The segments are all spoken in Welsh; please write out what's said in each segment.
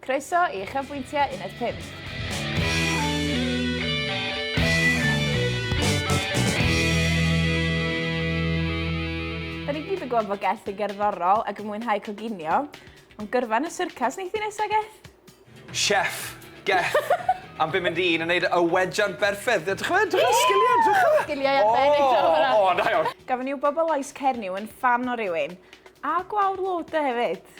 Croeso i Uchafbwyntiau Uned 5. Da ni gyd yn gwybod bod Geth yn gerddorol ac yn mwynhau coginio, ond gyrfa yn y syrcas wneith i nesa, Geth? Chef, Geth, am bum mynd un yn neud y wejan berffedd. Dych chi'n meddwl, dych sgiliau, dych chi'n... Sgiliau arbennig to hwnna. O, da iawn. Gafon ni wybod bod Lais Cernyw yn ffan o rywun, a gwawr Loader hefyd.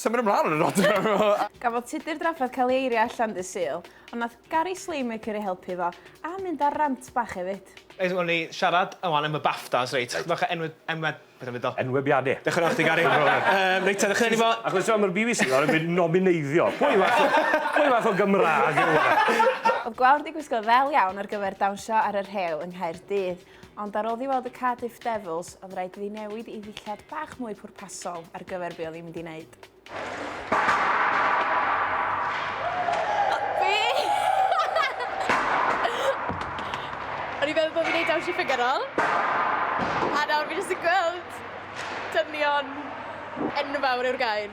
Symud ymlaen yn yr adran! Gafodd Tudur drafferth cael ei eirio allan ddydd Sul, ond nath Gary Slaymaker ei helpu fo, a mynd ar rant bach efyd. Reit, wel ni siarad wan am y Baftas, reit, chydig bach o enwe- enwe- beth am ddeud o? Enwebiade. Dioch yn fawr i chdi Gary. Yym reit te, ddechreuwn ni 'fo... Achos t'mo' ma'r BBC nawr yn gweud nomineiddio. Pwy fath o pwy fath o Gymrag yw hwnna? O'dd Gwawr 'di gwisgo ddel iawn ar gyfer dawnsio ar y rhew yng Nghaerdydd, Ond ar ôl i weld y Cardiff Devils, oedd rhaid iddi newid ei ddillad bach mwy pwrpasol ar gyfer be oedd hi'n mynd i wneud. Fi! O'n i'n meddwl bod fi'n neud dawnsio ffigyrol. A nawr fi jyst yn gweld dynion enfawr yw'r gair.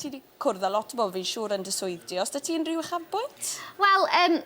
Ti wedi cwrdd â lot o bobl, fi'n siŵr, yn dy swydd di. Os da ti unrhyw uchafbwynt? Wel, um,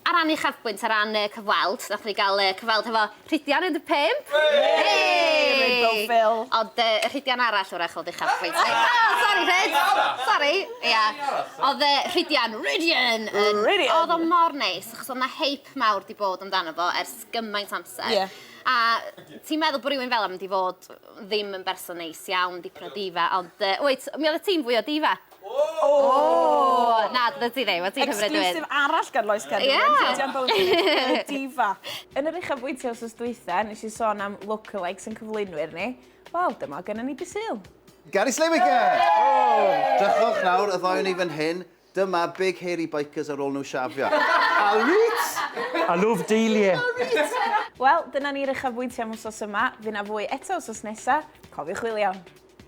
ar ran uchafbwynt, ar ran uh, cyfweld, nath ni gael uh, cyfweld hefo Rhidian 15. Hey! Rainbow Phil. Ond uh, y Rhidian arall o'r echol uchafbwynt. oh, sorry, Rhyd. Sorry. Ia. Yeah. Oedd uh, Rhidian, Rhidian. Rhidian. Oedd o mor neis, achos oedd na heip mawr di bod amdano fo ers gymaint amser. Yeah. A ti'n meddwl bod rhywun fel am di fod ddim yn berson neis iawn, dipyn o diva, ond yy wyt, mi oddet ti'n fwy o diva. Ooh! Na, dyna ti ddim, o ti'n hyfryd hefyd. Exclusive arall gan Lois Cefn Gwyn, Rhydian Bowden, diva. Yn yr uchafbwynt wsos dwytha, nes i sôn am lookalikes yn cyflwynwyr ni, wel, dyma o gynnon ni Be Sul. Garys Lewicka! Drychwch nawr, y ddoi o ni fan hyn, Dyma big hairy bikers ar ôl nhw shafio. Alright! I love Dahlia! Alright! Wel, dyna ni'r uchafbwyntiau am wsos yma. Fy' 'na fwy eto wsos nesa. Cofiwch chwilio am.